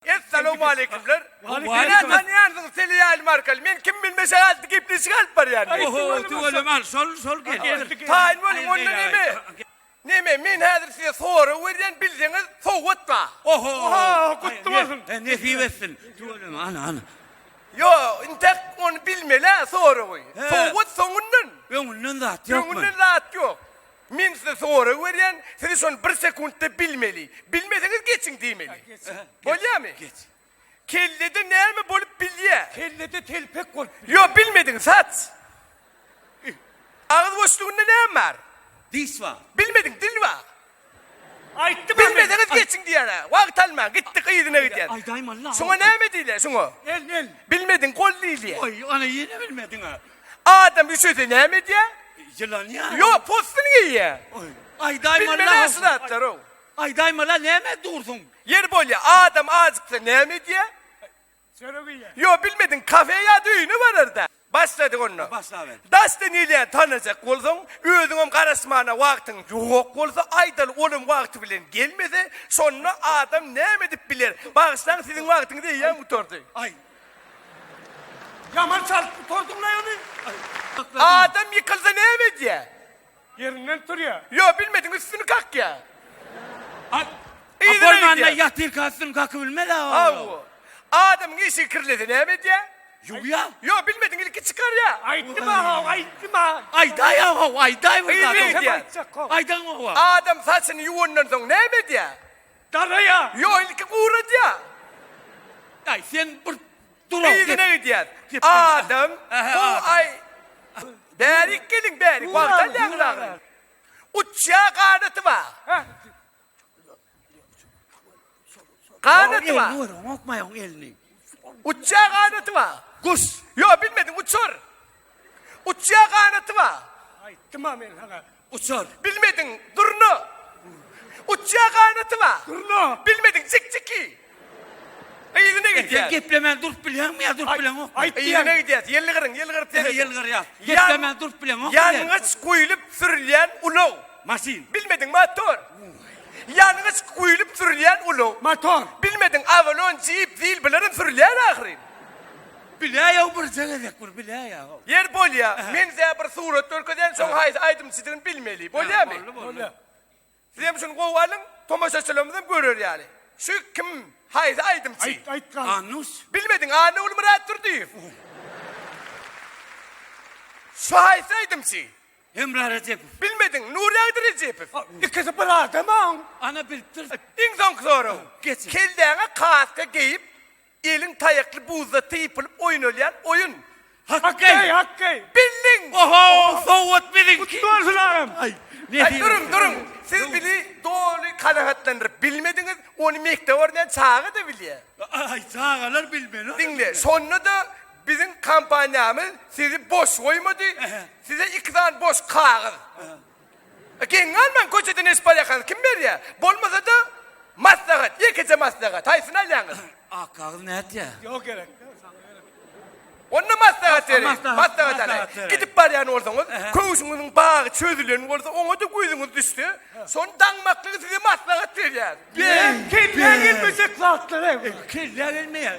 Essalowmaleýkimler. Meni tanýarsyňyz Seliýaýl Markal. Men kim bilmeşek atly gepleşik alyp barýan. Oho, tüweleme al, şol, şol gel. Taýyn boluň onda neme? Neme, men häzir size sorag berýän, bilseňiz sowgat ba. Oho. Gutly bolsun. Nesip etsin. Tüweleme, ana, ana. Ýo, intäk ony bilmeli-ä soragy. Sowgat soňundan. Öňünden zat ýokmy? Öňünden zat ýok. Men size sorag berýän, siz şony bir sekuntda bilmeli. Bilmeseňiz geçiň diýmeli. Bolýamy? Geç. Kellede näme bolup bilýä? Kellede telpek bolup bilýä. Ýok, bilmediň, saç. Agyz boşlugynda näme bar? Diş bar. Bilmediň, dil bar. Aýtdym a men. Bilmeseňiz geçiň diýýän-ä. Wagt almaň, gitdik yzyna gidýän. Aýdaýmaly-la. Şuňa näme diýilýä, şuňa? El, el. Bilmediň, gol diýilýä. Oý, ana ýene bilmediň-ä. Adam üşese näme edýär? Ýylanýar. Ýok, postuny geýýär. Aýdaýmaly-la. Bilmeli şu zatlary. Aýdaýmaly-la, näme dursuň? Ýeri bolýar, adam ajyksa näme edýär? Çörek iýýär. Ýok, bilmediň, kafe ýa-da öýüne barar-da. Başladyk onda. Başlaber. Daşda neyleyeni tanajak bolsaň, özüňem garaşmana wagtyň ýok bolsa, aýdaly, olam wagty bilen gelmese, şonda adam näme edip biler? Bagyşlaň, siziň wagtyňyz eýýäm gutardy. Aý, Ýaman çalyp gutardyň-laý ony. Adam ýykylsa näme edýär? Ýerinden turýar. Ýok, bilmediň üstüni kakýar. Yzyna gidýär. Ýatyrka üstüni kakyp bilmez-ä oglum. Hawa. Adamyň işigi kirlese näme edýär? Ýuwýar. Ýok, bilmediň ilki çykarýar. Aýtdym-a-haw, aýtdym-a. Aýdaý-a-haw, aýdaý bir zat. Aýdaň-a-haw. Adam saçyny ýuwandan soň näme edýär? Garaýa. Ýok, ilki guradýa. Daýy, sen bir dur-a, gep. Yzyna gidýäs. Adam, gowy aý. Bärik geliň, bärik. Wagt alýaňyz agry. Uçýa, ganaty bar. Ganaty bar. Oňa elini ber, oňa okmaý oň elini. Uçýa, ganaty bar. Guş. Ýok, bilmediň, uçur. Uçýa, ganaty bar. Aýtdym-a men saňa. Uçar. Bilmediň, durna. Uçýar ganaty bar. Durna. Bilmediň, jikjiki. Yzyna gidýär. Sen geplemän durup bilýäňmi ýa durup bileňok? Aýt diýen. Yzyna gidýär. Ýylgyryň, ýylgyr tez. Heh, ýylgyr ýa. Geplemän durup bileňok. Ýangyç guýlup sürülýän ulag. Maşyn. Bilmediň, motor. Ýangyç guýlup sürülýän ulag. Motor. Bilmediň, awalon, jip, zil bilerin sürülýär ahyryn. Biläýow birje gezek bir biläýow. Ýer bolýa men size bir surat görkezýän şoň haýsy aýdymçydygyny bilmeli bolýamy. Boldy boldy. Sizem şuny gowy alyň tomaşaçylarymyzam görer ýaly. Şu kim haýsy aýdymçy. Aýt aýt gal. Anus. Bilmediň Annagulmyrat Durdyýew. Şu haýsy aýdymçy. Hemra Rejepow. Bilmediň Nurýagdy Rejepow. Ikisi bir adamam. Ana bilipdir. Iň soňky soraw. Geçiň. Kelläňe kaska geýip Elin taýakly buzda typylyp oýnalýan oýun. Hakkeý! Hakkeý! Bildiň! Oho! Sowat biziňki! Gutly bolsun agam! Aý, duruň, duruň! Siz bili doly kanagatlandyryp bilmediňiz, ony mekdep barmaýan çaga-da bilýär. Aý, çagalar bilmeli. Diňle, şonda-da biziň kompaniýamyz sizi boş goýmady, size iki sany boş kagyz. Geň galmaň köçeden eşip barýakaňyz kim berýä? Bolmasada maslahat ýekeje maslahat haýsyny alýaňyz? Akgagyz nätýä? Ýok gerek. Onda maslahat beriň. Maslahat, Maslahat alaýyň. maslahat beriň. Gidip barýan bolsaňyz, Ähä. köwşüňiziň bagy çözülen bolsa, oňa-da gözüňiz düşse, şony daňmaklygy size maslahat berýär. Beýik, Kelläňe gelmejek zatlar ew. Kelläňe gelmeýär.